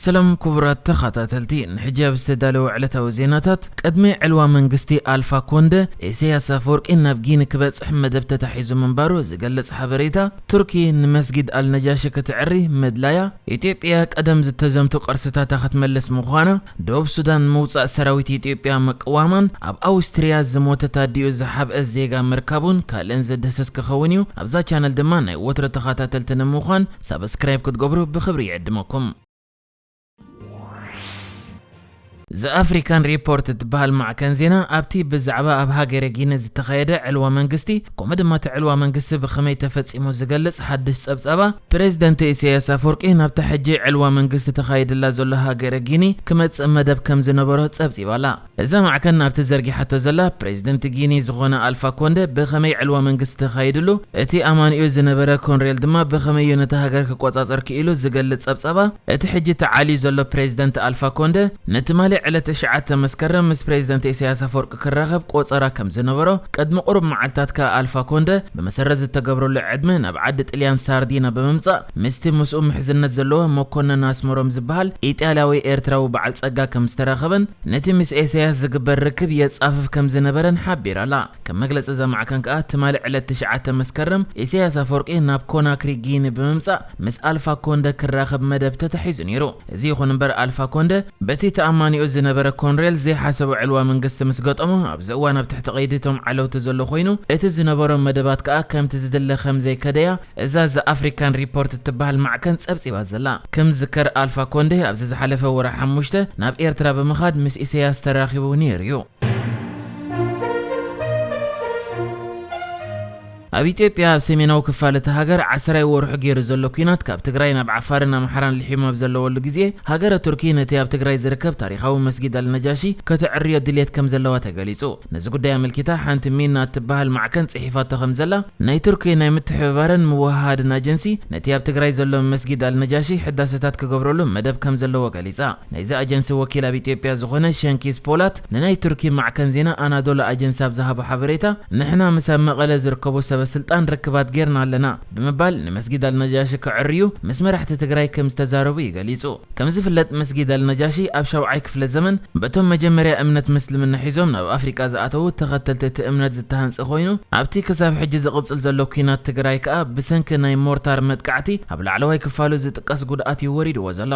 ሰላም ኩቡራት ተኻታተልቲ ንሕጂ ኣብ ዝተዳለወ ዕለታዊ ዜናታት ቅድሚ ዕልዋ መንግስቲ ኣልፋ ኮንደ ኢሰያስ ኣፈወርቂ ናብ ጊኒ ክበጽሕ መደብ ተታሒዙ ምንባሩ ዝገልጽ ሓበሬታ ቱርኪ ንመስጊድ ኣልነጃሺ ክትዕሪ ምድላያ ኢትዮጵያ ቀደም ዝተዘምቱ ቅርስታታ ክትመልስ ምዃና ደቡብ ሱዳን ምውጻእ ሰራዊት ኢትዮጵያ ምቅዋማን ኣብ ኣውስትርያ ዝሞተት ኣዲኡ ዝሓብአ ዜጋ ምርካቡን ካልእን ዝድህስስ ክኸውን'ዩ ኣብዛ ቻነል ድማ ናይ ወትሩ ተኻታተልቲ ንምዃን ሳብስክራይብ ክትገብሩ ብኽብሪ ይዕድመኩም። ዘኣፍሪካን ሪፖርት እትበሃል ማዕከን ዜና ኣብቲ ብዛዕባ ኣብ ሃገረ ጊኒ ዝተኻየደ ዕልዋ መንግስቲ ከምኡ ድማ እቲ ዕልዋ መንግስቲ ብኸመይ ተፈጺሙ ዝገልጽ ሓድሽ ጸብጻባ ፕሬዚደንት ኢሳያስ ኣፈወርቂ ናብታ ሕጂ ዕልዋ መንግስቲ ተኻይድላ ዘሎ ሃገረ ጊኒ ክመጽእ መደብ ከም ዝነበሮ ጸብጺባ'ላ። እዛ ማዕከን ናብቲ ዘርጊሓቶ ዘላ ፕረዚደንት ጊኒ ዝኾነ ኣልፋ ኮንደ ብኸመይ ዕልዋ መንግስቲ ተኻይድሉ፣ እቲ ኣማኒኡ ዝነበረ ኮንሬል ድማ ብኸመይ'ዩ ነታ ሃገር ክቆጻጸር ክኢሉ ዝገልጽ ጸብጻባ እቲ ሕጂ ተዓልዩ ዘሎ ፕረዚደንት ኣልፋ ኮንደ ንትማሊ ዕለት ትሽዓተ መስከረም ምስ ፕረዚደንት ኢሳያስ ኣፈወርቂ ክራኸብ ቆጸራ ከም ዝነበሮ ቅድሚ ቁሩብ መዓልታት ከኣ ኣልፋ ኮንደ ብመሰረት ዝተገብረሉ ዕድመ ናብ ዓዲ ጥልያን ሳርዲና ብምምጻእ ምስቲ ምስኡ ምሕዝነት ዘለዎ መኮነን ኣስመሮም ዝበሃል ኢጣልያዊ ኤርትራዊ በዓል ጸጋ ከም ዝተራኸበን ነቲ ምስ ኤሰያስ ዝግበር ርክብ የጻፍፍ ከም ዝነበረን ሓቢራ'ላ። ከም መግለጺ እዛ ማዕከን ከኣ ትማሊ ዕለት ትሽዓተ መስከረም ኢሰያስ ኣፈወርቂ ናብ ኮናክሪ ጊኒ ብምምጻእ ምስ ኣልፋ ኮንደ ክራኸብ መደብ ተታሒዙ ነይሩ። እዚ ይኹን እምበር ኣልፋ ኮንደ በቲ ተኣማኒኡ ዝነበረ ኮንሬል ዘይሓሰቦ ዕልዋ መንግስቲ ምስ ገጠሞ ኣብዚ እዋን ኣብ ትሕቲ ቀይዲ እቶም ዓለውቲ ዘሎ ኮይኑ እቲ ዝነበሮም መደባት ከኣ ከምቲ ዝድለ ከም ዘይከደ'ያ እዛ ዘ ኣፍሪካን ሪፖርት እትበሃል ማዕከን ጸብጺባ ዘላ፣ ከም ዝዝከር ኣልፋ ኮንደ ኣብዚ ዝሓለፈ ወርሒ ሓሙሽተ ናብ ኤርትራ ብምኻድ ምስ ኢሰያስ ተራኺቡ ነይሩ'ዩ። ኣብ ኢትዮጵያ ኣብ ሰሜናዊ ክፋል እታ ሃገር ዓሰራይ ወርሑ ገይሩ ዘሎ ኲናት ካብ ትግራይ ናብ ዓፋርን ኣምሓራን ልሒሙ ኣብ ዘለወሉ ግዜ ሃገረ ቱርኪ ነቲ ኣብ ትግራይ ዝርከብ ታሪኻዊ መስጊድ ኣልነጃሺ ከተዕርዮ ድልየት ከም ዘለዋ ተገሊጹ። ነዚ ጉዳይ ኣመልኪታ ሓንቲ ሚና እትበሃል ማዕከን ጽሒፋቶ ከም ዘላ ናይ ቱርኪ ናይ ምትሕብባርን ምውህሃድን ኣጀንሲ ነቲ ኣብ ትግራይ ዘሎ መስጊድ ኣልነጃሺ ሕዳሰታት ክገብረሉ መደብ ከም ዘለዎ ገሊጻ። ናይዚ ኣጀንሲ ወኪል ኣብ ኢትዮጵያ ዝኾነ ሸንኪዝ ፖላት ንናይ ቱርኪ ማዕከን ዜና ኣናዶሉ ኣጀንሲ ኣብ ዝሃቦ ሓበሬታ ንሕና ምስ ኣብ መቐለ ዝርከቡ ሰበስልጣን ርክባት ጌርና ኣለና። ብምባል ንመስጊድ ኣልነጃሺ ከዐርዩ ምስ መራሕቲ ትግራይ ከም ዝተዛረቡ እዩ ገሊጹ። ከም ዝፍለጥ መስጊድ ኣልነጃሺ ኣብ ሻውዓይ ክፍለ ዘመን በቶም መጀመርያ እምነት ምስልምና ሒዞም ናብ ኣፍሪቃ ዝኣተዉ ተኸተልቲ እቲ እምነት ዝተሃንጸ ኮይኑ ኣብቲ ክሳብ ሕጂ ዝቕጽል ዘሎ ኲናት ትግራይ ከኣ ብሰንኪ ናይ ሞርታር መጥቃዕቲ ኣብ ላዕለዋይ ክፋሉ ዝጥቀስ ጉድኣት እዩ ወሪድዎ ዘሎ።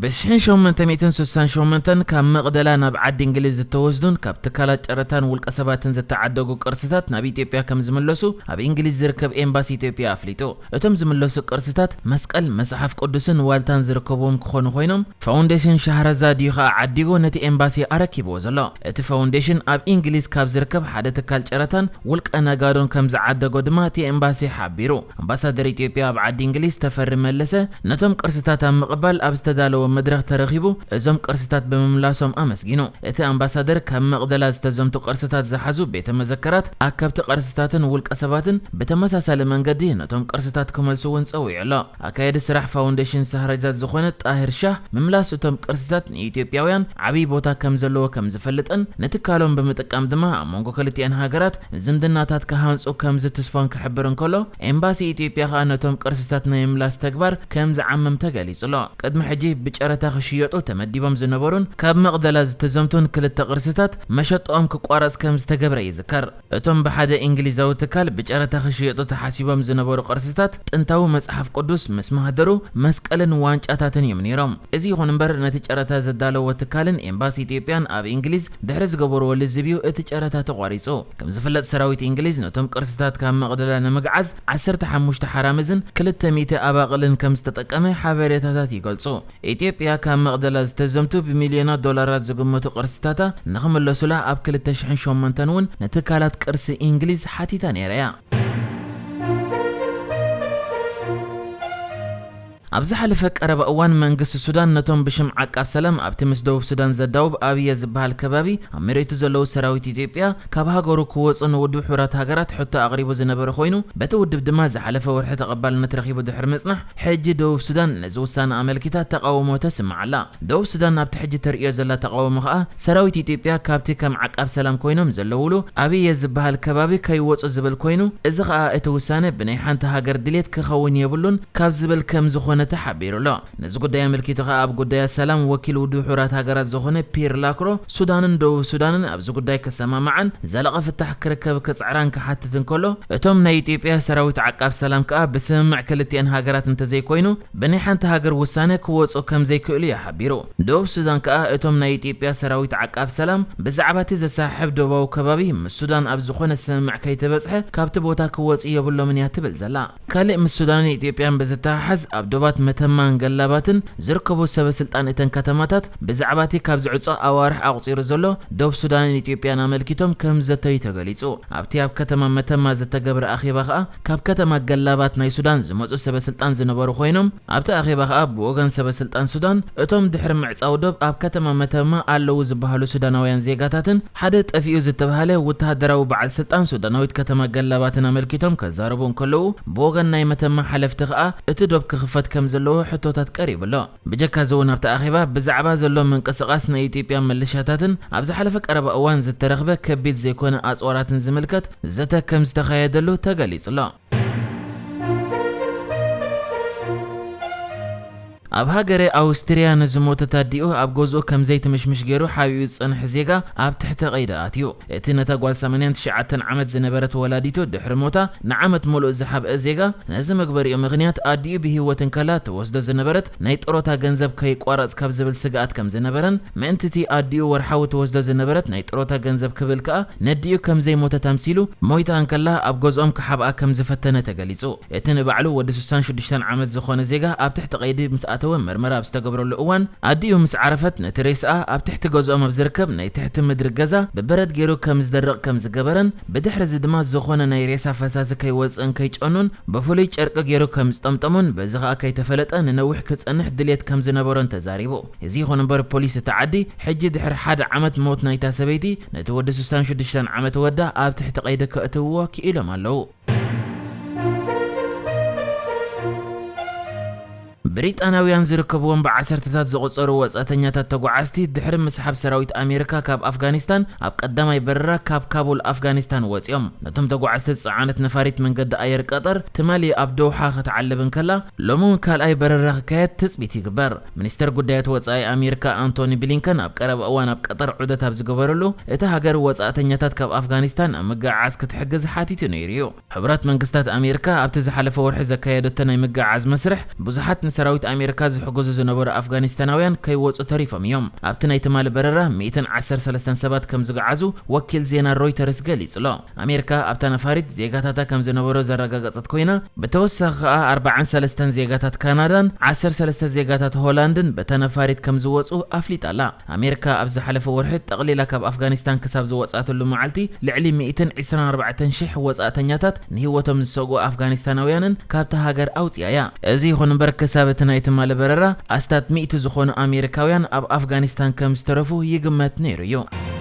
ብሽሕን ሸሞንተ ሚእትን ስሳን ሸሞንተን ካብ መቕደላ ናብ ዓዲ እንግሊዝ ዝተወስዱን ካብ ትካላት ጨረታን ውልቀ ሰባትን ዝተዓደጉ ቅርስታት ናብ ኢትዮጵያ ከም ዝምለሱ ኣብ እንግሊዝ ዝርከብ ኤምባሲ ኢትዮጵያ ኣፍሊጡ። እቶም ዝምለሱ ቅርስታት መስቀል፣ መጽሓፍ ቅዱስን ዋልታን ዝርከብዎም ክኾኑ ኮይኖም፣ ፋውንዴሽን ሻህረዛድ እዩ ከኣ ዓዲጉ ነቲ ኤምባሲ ኣረኪብዎ ዘሎ። እቲ ፋውንዴሽን ኣብ እንግሊዝ ካብ ዝርከብ ሓደ ትካል ጨረታን ውልቀ ነጋዶን ከም ዝዓደጎ ድማ እቲ ኤምባሲ ሓቢሩ። ኣምባሳደር ኢትዮጵያ ኣብ ዓዲ እንግሊዝ ተፈሪ መለሰ ነቶም ቅርስታት ኣብ ምቕባል ኣብ ዝተዳለወ መድረኽ ተረኺቡ እዞም ቅርስታት ብምምላሶም ኣመስጊኑ። እቲ ኣምባሳደር ካብ መቕደላ ዝተዘምቱ ቅርስታት ዝሓዙ ቤተ መዘከራት፣ ኣከብቲ ቅርስታትን ውልቀ ሰባትን ብተመሳሳሊ መንገዲ ነቶም ቅርስታት ክመልሱ እውን ፀዊዑ ኣሎ። ኣካየዲ ስራሕ ፋውንዴሽን ሳህረጃት ዝኾነ ጣሂር ሻህ ምምላስ እቶም ቅርስታት ንኢትዮጵያውያን ዓብዪ ቦታ ከምዘለዎ ከምዝፈልጥን ንትካሎም ብምጥቃም ድማ ኣብ መንጎ ክልቲኣን ሃገራት ዝምድናታት ክሃንጹ ከም ዝትስፎን ክሕብር እንከሎ፣ ኤምባሲ ኢትዮጵያ ከኣ ነቶም ቅርስታት ናይ ምምላስ ተግባር ከም ዝዓምም ተገሊጹ'ሎ። ቅድሚ ሕጂ ብጨረታ ክሽየጡ ተመዲቦም ዝነበሩን ካብ መቕደላ ዝተዘምቱን ክልተ ቅርስታት፣ መሸጣኦም ክቋረጽ ከም ዝተገብረ ይዝከር። እቶም ብሓደ እንግሊዛዊ ትካል ብጨረታ ክሽየጡ ተሓሲቦም ዝነበሩ ቅርስታት፣ ጥንታዊ መጽሓፍ ቅዱስ ምስ ማህደሩ መስቀልን ዋንጫታትን እዮም ነይሮም። እዚ ይኹን እምበር ነቲ ጨረታ ዘዳለዎ ትካልን ኤምባሲ ኢትዮጵያን ኣብ ኢንግሊዝ ድሕሪ ዝገበርዎ ልዝብ እዩ እቲ ጨረታ ተቋሪጹ። ከም ዝፍለጥ ሰራዊት ኢንግሊዝ ነቶም ቅርስታት ካብ መቕደላ ንምግዓዝ ዓሰርተ ሓሙሽተ ሓራምዝን ክልተ ሚእቲ ኣባቕልን ከም ዝተጠቀመ ሓበሬታታት ይገልጹ። ኢትዮጵያ ካብ መቕደላ ዝተዘምቱ ብሚልዮናት ዶላራት ዝግመቱ ቅርስታታ ንኽምለሱላ ኣብ ክልተ ሽሕን ሸሞንተን እውን ንትካላት ቅርሲ ኢንግሊዝ ሓቲታ ነይራ እያ። ኣብ ዝሓለፈ ቀረባ እዋን መንግስቲ ሱዳን ነቶም ብሽም ዓቃብ ሰላም ኣብቲ ምስ ደቡብ ሱዳን ዘዳውብ ኣብየ ዝበሃል ከባቢ ኣብ መሬቱ ዘለዉ ሰራዊት ኢትዮጵያ ካብ ሃገሩ ክወጹ ንውድብ ሕቡራት ሃገራት ሕቶ ኣቕሪቡ ዝነበረ ኮይኑ በቲ ውድብ ድማ ዝሓለፈ ወርሒ ተቐባልነት ረኺቡ ድሕሪ ምጽናሕ ሕጂ ደቡብ ሱዳን ነዚ ውሳነ ኣመልኪታ ተቓውሞ ተስምዕ ኣላ። ደቡብ ሱዳን ናብቲ ሕጂ ተርእዮ ዘላ ተቓውሞ ከኣ ሰራዊት ኢትዮጵያ ካብቲ ከም ዓቃብ ሰላም ኮይኖም ዘለዉሉ ኣብየ ዝበሃል ከባቢ ከይወጹ ዝብል ኮይኑ እዚ ከኣ እቲ ውሳነ ብናይ ሓንቲ ሃገር ድሌት ክኸውን የብሉን ካብ ዝብል ከም ዝኾነ ተሓቢሩ ኣሎ። ነዚ ጉዳይ ኣመልኪቱ ከኣ ኣብ ጉዳያት ሰላም ወኪል ውድብ ሕቡራት ሃገራት ዝኾነ ፒር ላክሮ ሱዳንን ደቡብ ሱዳንን ኣብዚ ጉዳይ ክሰማማዓን ዘላቒ ፍታሕ ክርከብ ክጽዕራን ክሓትት እንከሎ እቶም ናይ ኢትዮጵያ ሰራዊት ዓቃብ ሰላም ከኣ ብስምምዕ ክልቲኤን ሃገራት እንተዘይኮይኑ ብናይ ሓንቲ ሃገር ውሳነ ክወጹ ከምዘይክእሉ እዩ ሓቢሩ። ደቡብ ሱዳን ከኣ እቶም ናይ ኢትዮጵያ ሰራዊት ዓቃብ ሰላም ብዛዕባቲ ዘሰሓሕብ ዶባዊ ከባቢ ምስ ሱዳን ኣብ ዝኾነ ስምምዕ ከይተበጽሐ ካብቲ ቦታ ክወጹ የብሎምን እያ ትብል ዘላ። ካልእ ምስ ሱዳንን ኢትዮጵያን ብዝተሓሓዝ ኣብ ዶባት መተማን ገላባትን ዝርከቡ ሰበ ስልጣን እተን ከተማታት ብዛዕባቲ ካብ ዝዕጾ ኣዋርሕ ኣቑጺሩ ዘሎ ዶብ ሱዳንን ኢትዮጵያን ኣመልኪቶም ከምዝዘተዩ ተገሊጹ። ኣብቲ ኣብ ከተማ መተማ ዝተገብረ ኣኼባ ከኣ ካብ ከተማ ገላባት ናይ ሱዳን ዝመጹ ሰበስልጣን ዝነበሩ ኮይኖም፣ ኣብቲ ኣኼባ ከኣ ብወገን ሰበስልጣን ሱዳን፣ እቶም ድሕሪ ምዕጻው ዶብ ኣብ ከተማ መተማ ኣለዉ ዝበሃሉ ሱዳናውያን ዜጋታትን ሓደ ጠፊኡ ዝተብሃለ ውተሃደራዊ በዓል ስልጣን ሱዳናዊት ከተማ ገላባትን ኣመልኪቶም ከዛረቡ እንከለዉ፣ ብወገን ናይ መተማ ሓለፍቲ ከኣ እቲ ዶብ ክኽፈት ከምዘለዎ ሕቶታት ቀሪቡ ኣሎ። ብጀካ'ዚ'ውን ኣብቲ ኣኼባ ብዛዕባ ዘሎ ምንቅስቓስ ናይ ኢትዮጵያ ምልሻታትን ኣብ ዝሓለፈ ቀረባ እዋን ዝተረኽበ ከቢድ ዘይኮነ ኣጽዋራትን ዝምልከት ዘተ ከምዝተኻየደሉ ተገሊጹ'ሎ። ኣብ ሃገረ ኣውስትርያ ንዝሞተት ኣዲኡ ኣብ ገዝኡ ከምዘይትምሽምሽ ገይሩ ሓቢኡ ዝጸንሐ ዜጋ ኣብ ትሕተ ቀይዲ ኣትዩ። እቲ ነታ ጓል ሰማንያን ትሽዓተን ዓመት ዝነበረት ወላዲቱ ድሕሪ ሞታ ንዓመት ምሉእ ዝሓብአ ዜጋ፣ ነዚ መግበሪኡ ምኽንያት ኣዲኡ ብህይወት እንከላ ትወስዶ ዝነበረት ናይ ጥሮታ ገንዘብ ከይቋረጽ ካብ ዝብል ስግኣት ከም ዝነበረን ምእንቲ'ቲ ኣዲኡ ወርሓዊ ትወስዶ ዝነበረት ናይ ጥሮታ ገንዘብ ክብል ከኣ ነዲኡ ከም ዘይሞተት ኣምሲሉ ሞይታ እንከላ ኣብ ገዝኦም ክሓብኣ ከም ዝፈተነ ተገሊጹ። እቲ ንባዕሉ ወዲ ስሳን ሽዱሽተን ዓመት ዝኾነ ዜጋ ኣብ ትሕቲ ቀይዲ ምስ ኣተወ መርመራ ኣብ ዝተገብረሉ እዋን ኣዲኡ ምስ ዓረፈት ነቲ ሬስኣ ኣብ ትሕቲ ገዝኦም ኣብ ዝርከብ ናይ ትሕቲ ምድሪ ገዛ ብበረድ ገይሩ ከም ዝደርቕ ከም ዝገበረን ብድሕሪ እዚ ድማ ዝኾነ ናይ ሬሳ ፈሳሲ ከይወጽእን ከይጨኑን ብፍሉይ ጨርቂ ገይሩ ከም ዝጠምጠሞን በዚ ከኣ ከይተፈለጠ ንነዊሕ ክጸንሕ ድልየት ከም ዝነበሮን ተዛሪቡ። እዚ ይኹን እምበር ፖሊስ እታ ዓዲ ሕጂ ድሕሪ ሓደ ዓመት ሞት ናይታ ሰበይቲ ነቲ ወዲ ስሳን ሽዱሽተን ዓመት ወዳ ኣብ ትሕቲ ቀይዲ ከእትውዎ ክኢሎም ኣለዉ። ብሪጣንያውያን ዝርከብዎም ብዓሰርተታት ዝቑጸሩ ወጻእተኛታት ተጓዓዝቲ ድሕሪ ምስሓብ ሰራዊት ኣሜሪካ ካብ ኣፍጋኒስታን ኣብ ቀዳማይ በረራ ካብ ካቡል ኣፍጋኒስታን ወጺኦም። ነቶም ተጓዓዝቲ ዝጸዓነት ነፋሪት መንገዲ ኣየር ቀጠር ትማሊ ኣብ ዶውሓ ክትዓልብ እንከላ ሎሚ እውን ካልኣይ በረራ ክካየድ ትጽቢት ይግበር። ሚኒስተር ጉዳያት ወጻኢ ኣሜሪካ ኣንቶኒ ብሊንከን ኣብ ቀረባ እዋን ኣብ ቀጠር ዑደት ኣብ ዝገበረሉ፣ እታ ሃገር ወጻእተኛታት ካብ ኣፍጋኒስታን ኣብ ምግዕዓዝ ክትሕግዝ ሓቲቱ ነይሩ'ዩ። ሕቡራት መንግስታት ኣሜሪካ ኣብቲ ዝሓለፈ ወርሒ ዘካየደቶ ናይ ምግዕዓዝ መስርሕ፣ ብዙሓት ንሰራዊት ኣሜሪካ ዝሕግዙ ዝነበሩ ኣፍጋኒስታናውያን ከይወጹ ተሪፎም እዮም። ኣብቲ ናይ ትማሊ በረራ ሚእትን ዓሰርተ ሰለስተን ሰባት ከምዝግዓዙ ወኪል ዜና ሮይተርስ ገሊጹ'ሎ። ኣሜሪካ ኣብታ ነፋሪት ዜጋታታ ከም ዝነበሩ ዘረጋገጸት ኮይና፣ ብተወሳኺ ከኣ ኣርባዓን ሰለስተን ዜጋታት ካናዳን ዓሰርተ ሰለስተ ዜጋታት ሆላንድን በታ ነፋሪት ከም ዝወጹ ኣፍሊጣ ኣላ። ኣሜሪካ ኣብ ዝሓለፈ ወርሒ ጠቕሊላ ካብ ኣፍጋኒስታን ክሳብ ዝወጽኣትሉ መዓልቲ ልዕሊ ሚእትን ዒስራን ኣርባዕተን ሽሕ ወጻእተኛታት ንህይወቶም ዝሰግኡ ኣፍጋኒስታናውያንን ካብታ ሃገር ኣውጺኣ እያ። እዚ ይኹን እምበር ክሳብ እቲ ናይ ትማሊ በረራ ኣስታት ሚእቲ ዝኾኑ ኣሜሪካውያን ኣብ ኣፍጋኒስታን ከም ዝተረፉ ይግመት ነይሩ እዩ።